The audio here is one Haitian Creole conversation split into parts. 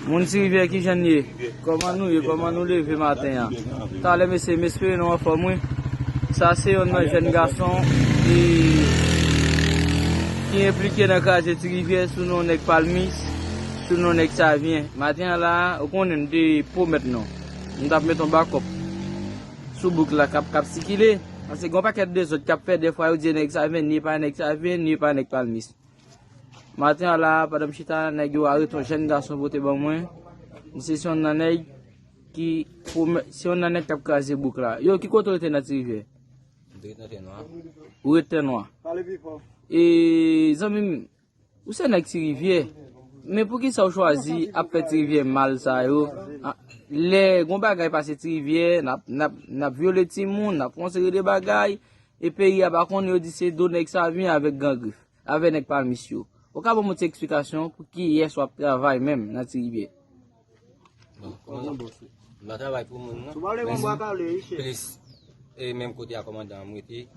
Moun ti rivyè kijan n ye kòman nou ye kòman nou leve maten an talè mesye m espere nou anfòm wi sa se yonn nan jèn gason ki ki enplike nan kraze ti rivyè sou non nèg palmis sou non nèg savyen maten an la ou konnen m te pwomèt nou m tap met yon bakòp sou bouk la kap kap sikile pase gon pakèt dezòd kap fèt defwa yo di nèg savyen ni pa nèg savyen ni pa nèg palmis. Maten a la a, pandan m chita la, nèg yo arete yon jèn gason pote ban mwen. Li se yon nan nèg ki se yon nan nèg k ap kraze bouk la. Yo, ki kote ou te nan ti rivyè? Mwen te ret nan tè nwa. Ou ret tè nwa? Pale pi fò. E zanmi m, ou se nèg ti rivyè, men pou ki sa ou chwazi ap fè ti rivyè mal sa yo? Lè yon bagay pase ti rivyè, n ap vyole timoun, n ap fè yon seri de bagay. E peyi a pa konnen yo di se do nèg sa vini avèk gran grif, avè nèg palmis yo. Ou ka ban mwen ti eksplikasyon pou kiyès wap travay menm nan ti rivyè? Bon komandan boss ou. M pa travay pou moun non. Plis e menm kote a komandan an m rete.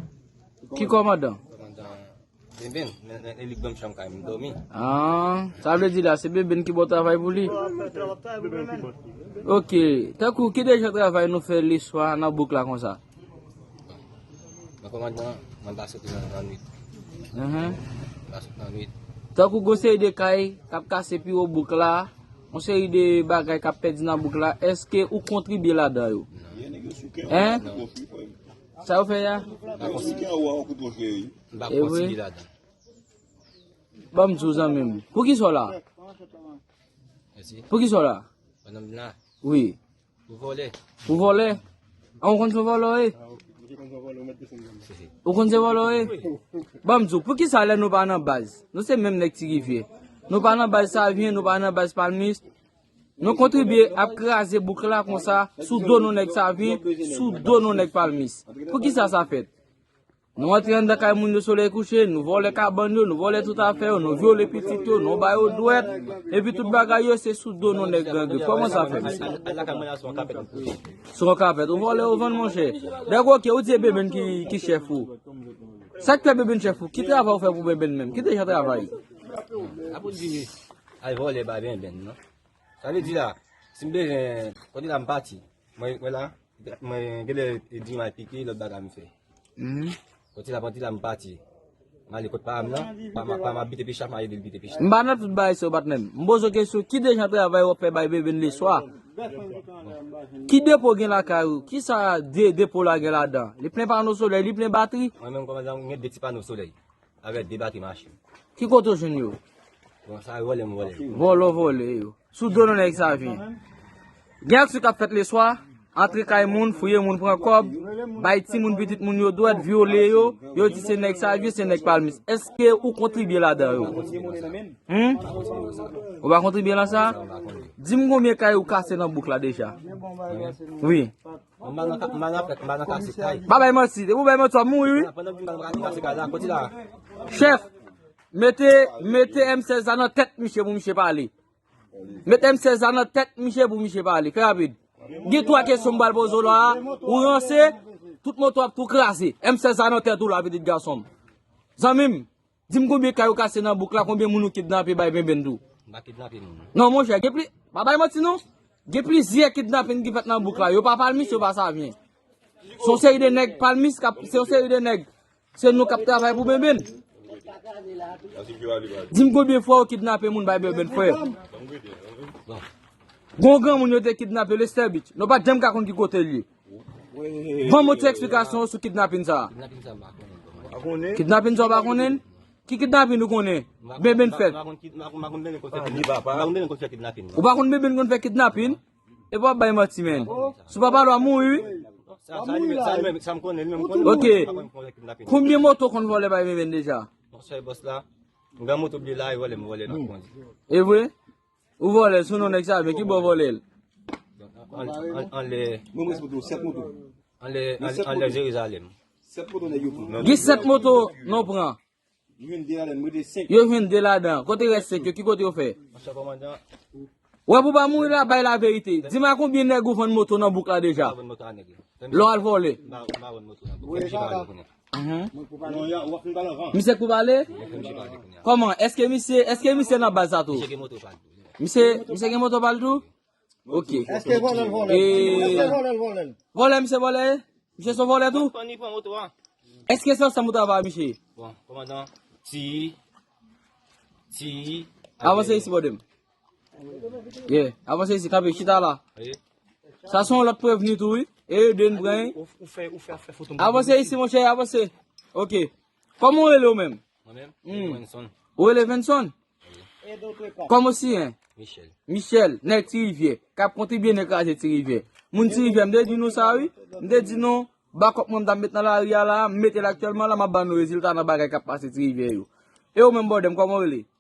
Ki komandan? Komandan. Benben nan li banm chanm kay m domi. Aah sa vle di la se Benben ki baw travay pou li? Ok tankou ki dejan travay nou fè le swa nan bouk la konsa? Nan kòmandman mwen pa soti nan nan nwit. Mwen pa soti nan nwit. Tankou gon seri de kay kap kase pi wo bouk la, gon seri de bagay kap pèdi nan bouk la, eske ou kontribye ladan yo? Hein? Sa yo fè ya? Mpa konn si gen anwo anko pou jwe wi. Mpa konn si li ladan. Banm di w zanmim. Poukisa w la? Poukisa w la? Pandan m la? Wi. Pou vole. Pou vole? An w konn se volo e? Ou konn se volo e? Banm di w poukisa lè nou pa nan baz. Nou se menm nèg ti rivye. Nou pa nan baz savyen, nou pa nan baz palmis. Nou kontribye ap kraze bouk la konsa sou do nou nèg savyen, sou do nou nèg palmis. Poukisa sa fèt? Nou antre anndan kay moun yo solèy kouche, nou vòlè kabann yo, nou vòlè tout afè yo, nou vyole pitit yo, nou ba yo dwèt, epi tout bagay yo se sou do nou nèg gran grif. Kòman sa fèt, mesye? Sou yon kapèt. Ou vòlè ou vann, monchè. Dèk oke, ou di e benbenn ki chèf ou. Sa k fè benbenn chèf ou? Ki travay ou fè pou benbenn menm? Ki te jan travay? Al vole bay benben non. Sa vle di la, si m bezwen kote la m pati. Mwen wè la, mwen genlè di mal pike lòt bagay m fè. Kote la pati la m pati. M ale kot pa m nan, pa m ap bite pichaf m ale bite pichaf. M pa nan tout bagay sa yo patnè m. M poze w kesyon ki de jan travay w ap fè bay benben leswa? Ki depo w gen lakay ou? Ki sa depo w la gen ladan? Li plen pano solèy? Li plen batri? Mwen menm kòmandan m gen de ti pano solèy. Avèk de batri machin. Ki kote ou jwenn yo? Bon, sa yo vòlè m vòlè yo. Vòlè w vòlè yo. Sou do nou nèg sa yo vini. Gen aksyon k ap fèt leswa, antre kay moun, fouye moun pran kòb, bay timoun pitit moun yo dwèt, vyole yo, yo di se nèg Savyen, se nèg Palmis. Èske ou kontribye ladan yo? Ou pa kontribye nan sa? Di m konbyen kay ou kase nan bouk la deja? Mwen? Wi. Pa bay manti, depi ou bay manti wap mouri wi. Chèf, mete M16 la nan tèt misye pou misye pale. Mete M16 la nan tèt misye pou misye pale. Fè rapid. Gen 3 kesyon m pral poze w la, ou ranse, tout moto w ap tou kraze. M16 la nan tèt ou la pitit gason m. Zanmi m, Dim konbyen kay ou kase nan bouk la konbyen moun ou kidnape bay benben tou. M pa kidnape moun. Non monchè gen pli pa bay manti non gen plizyè kidnaping ki fèt nan bouk la yo pa palmis yo pa savyen. Se yon seri de nèg palmis kap se yon seri de nèg se nou kap travay pou benben. Dim konbyen fwa ou kidnape moun bay benben frè. Bon. Gon granmoun yo te kidnape Lester Beach. Nou pat janm ka konn ki kote l ye. Ban mwen ti eksplikasyon ou sou kidnapin sa a. Kidnapin sa ou pa konnen? Ki kidnapin ou konnen? Beben fèt. Ou pa konnen beben konn fè kidnapin? Epa wap bay manti men. Sou papa lwa mouri wi. Ok, konbyen moto konn vole bay beben deja? Evre? Ou vòlè sou non nèg sa men ki bò vòlè l. Anlè Jerizalèm. Gen 7 moto nou pran. Yo jwenn 2 ladan. Kote rès 5 yo? Ki kote yo fè? Wè pou pa mouri la bay la verite. Di ma konbyen nèg ou vann moto nan bouk la deja. Lè w al vòlè. Misye k pou pale? Koman? Eske misye, eske misye nan baz sa tou? Misye, misye gen moto pal tou? Ok. Eske vole l vole? Eske vole l vole? Vole misye vole? Misye son vole tou? Eske se ansanm ou travay misye? Bon, komandan, ti, ti, avanse isi bòdem. Ye, avanse isi, kape, chita la. Sa son lòt preveni tou, wi. E yo dwen pran. Ou fè, ou fè, ou fè foton. Avanse isi, mon chè, avanse. Ok. Kòm ou rele ou menm? Mwen menm? Mwen rele Venson. Ou rele Venson? E do kwe pa. Kòm ou si en? Michel. Michel, nèk ti rivye. Kap konti byen nèk raje ti rivye. Moun ti rivye, mde di nou sa, wi. Mde di nou, bakop mwen mda met nan la ria la, mete laktyèlman la, mba nou rezilta nan bagay kap pase ti rivye yo. E ou menm bòdèm, kòm ou rele?